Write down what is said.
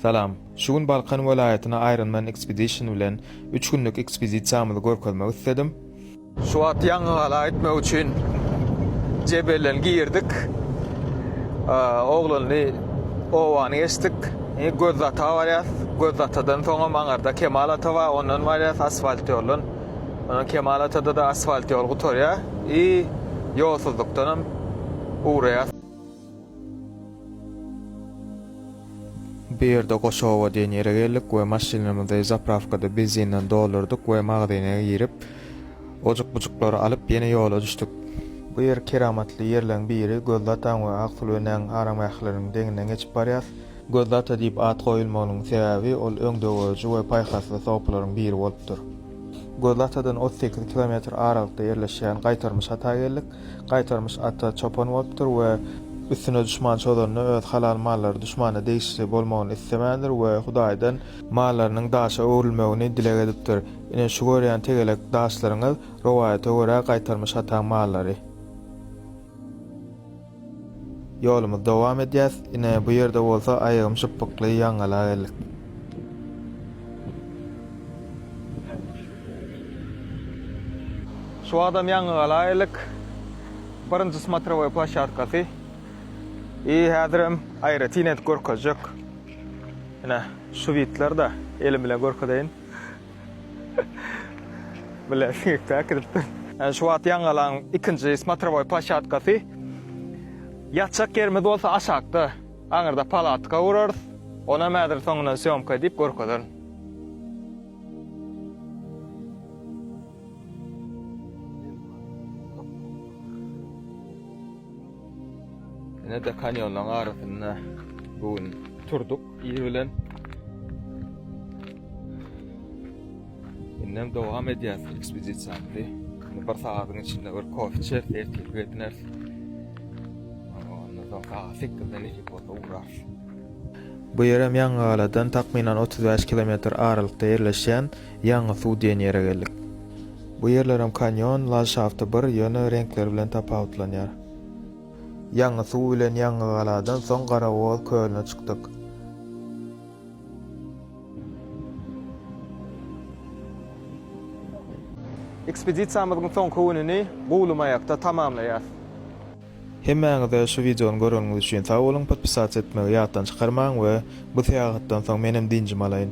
Salam. Şu gün Balkan welaýatyna Ironman Expedition bilen üç günlük ekspedisiýamyzy görkezmek isledim. Şu wagt ýangygala gitmek üçin jebelden girdik. Oglanly obany geçdik. Indi Gözdataga barýas. Gözdatadan soňam aňyrda Kemal ata bar, ondan barýas asfalt ýoldan. Ondan Kemal atada-da asfalt ýol gutarýar. I ýolsuzlykdanam ugraýas. Bu ýerde Goçowa diýen ýere geldik we maşynymyzy zaprawkada benzinden doldurdyk we magazyna girip, ojuk-bujuklary alyp, ýene ýola düşdük. Bu ýer keramatly ýerleriň biri, Gözli ataň we Aksül enäň aramgähleriniň deňinden geçip barýas. Gözli ata diýip at goýulmagynyň sebäbi, ol öňdegörüji we paýhasly sopylaryň biri bolupdyr. Gözli atadan otuz sekiz kilometr aralykda ýerleşýän Gaýtarmyş ata geldik. Gaýtarmyş ata çopan bolupdyr we üstüne duşman çozanda öz halal mallary duşmana degişli bolmagyny islemändir we Hudaýdan mallarynyň daşa öwrülmegini dileg edipdir. Ine şu görýän tegelek daşlaryňyz rowaýata görä Gaýtarmyş ataň mallary. Ýolumyzy dowam edýäs. Ine bu ýerde bolsa aýagym şypbykly ýaňgala geldik. Şu wagtam ýaňy galaýylyk birinji smatrowoý plaşatkasy i häzirem aýratyn edip görkezjek. Ine, şwidler-de elim bilen görkezeýin. Bile siňekde äkidipdir. Ene şu wagt ýaňy galaň ikinji smatrowoý plaşatkasy. Ýatjak ýerimiz bolsa aşakda. Aňyrda palatka gurarys. Onam häzir soňundan sýomka edip görkezerin. Ine de kanyonlaryň arasynda bu gün turduk ir bilen. Indem dowam edýäs ekspedisiýamyzy. Bir sagadyň içinde bir kofe içer, ertir gidiners. Ondan soň sagat 8-den iki bolsa ugrarys. Bu ýerem Ýangygaladan takmynan otuz bäş kilometr aralykda ýerleşýän Ýangy suw diýen ýere geldik. Bu ýerlerem kanýon, landşafty bir, ýöne reňkleri bilen tapawutlanýar. Ýangy suw bilen Ýangygaladan soň Garagoz kölüne çykdyk. Ekspedisiýamyzyň soňky gününi Guwlymaýakda tamamlaýarys. Hemmäňize şu videony göreniňiz üçin sag boluň, podpisat etmegi ýatdan çykarmaň we bu syýahatdan soň menem dynjym alaýyn.